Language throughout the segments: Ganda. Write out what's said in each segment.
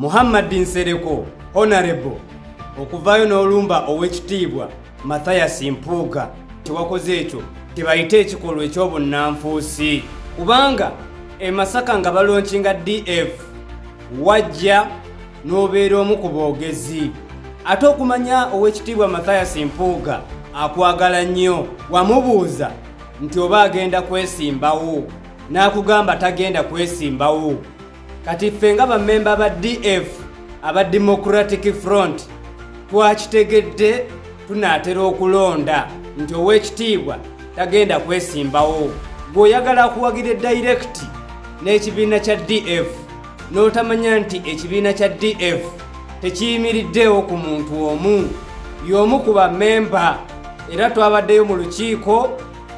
Muhammad Nsereko Honorable okuvaayo n'olumba ow'ekitiibwa Matthias Mpuuga tewakoze ekyo tebayita ekikolwa eky'obunnanfuusi kubanga e Masaka nga balonkinga DF wajja n'obeera omu ku boogezi ate okumanya ow'ekitiibwa Matthias Mpuuga akwagala nnyo wamubuuza nti oba agenda kwesimbawo n'akugamba tagenda kwesimbawo kati ffe nga bamemba ba df aba democratic front twakitegedde tunaatera okulonda nti ow'ekitiibwa tagenda kwesimbawo gweoyagala akuwagira edayirekiti n'ekibiina kya df n'otamanya nti ekibiina kya df tekiyimiriddeewo ku muntu omu y'omu ku bamemba era twabaddeyo mu lukiiko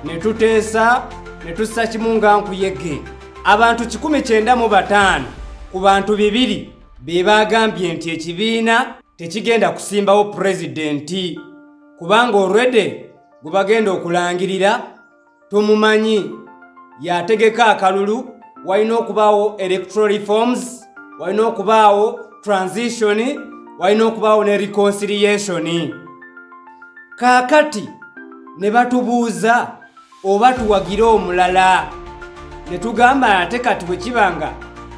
ne tuteesa ne tussa kimu nga nkuyege Abantu kikumi kyenda mu bataano ku bantu bibiri be baagambye nti ekibiina tekigenda kusimbawo pulezidenti kubanga olwedde gwe bagenda okulangirira tumumanyi yategeka akalulu walina okubaawo electoral reforms walina okubaawo transition walina okubaawo ne reconciliation kaakati ne batubuuza oba tuwagire omulala ne tugamba ate kati bwe kiba nga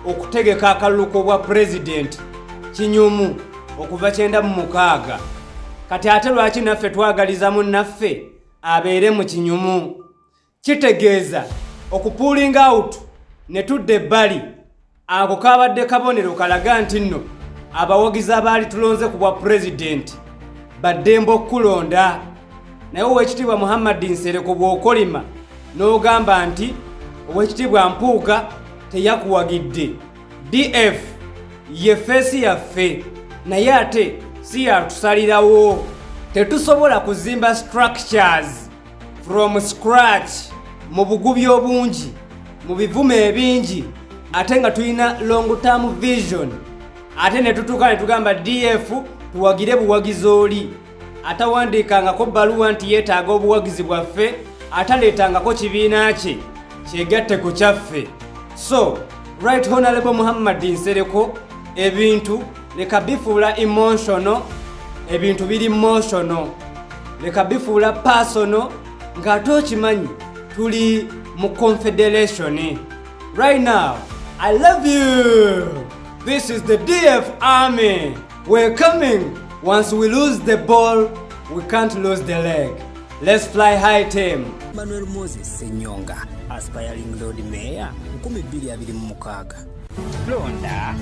okutegeka akalulu k'obwa pulezidenti kinyumu okuva kyenda mu mukaaga kati ate lwaki naffe twagaliza mu naffe abeere mu kinyumu kitegeeza okupuulinga awutu ne tudda ebbali Ako kaabadde kabonero kalaga nti nno abawagizi abaali tulonze ku bwa pulezidenti baddemba okukulonda naye owekitiibwa muhammadi nsereko bw'okolima n'ogamba nti owekitiibwa mpuuga teyakuwagidde df ye feesi yaffe naye ate si yatusalirawo tetusobola kuzimba structures from scratch mu bugubi obungi mu bivumo ebingi ate nga tulina long term vision ate ne tutuuka ne tugamba df tuwagire buwagizi oli atawandiikangako bbaluwa nti yeetaaga obuwagizi bwaffe ataleetangako kibiina kye kyegatte ku kyaffe so right honalebo muhammadi nsereko ebintu leka bifuula emotional ebintu biri motional leka bifuula personal ng'ate okimanyi tuli mu confederation right now i love you this is the df army we're coming once we lose the ball we can't lose the leg let's fly high team manuel moses senyonga aspiring lord mayor 226 Londa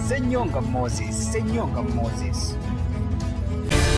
Senyonga Moses, Senyonga Moses.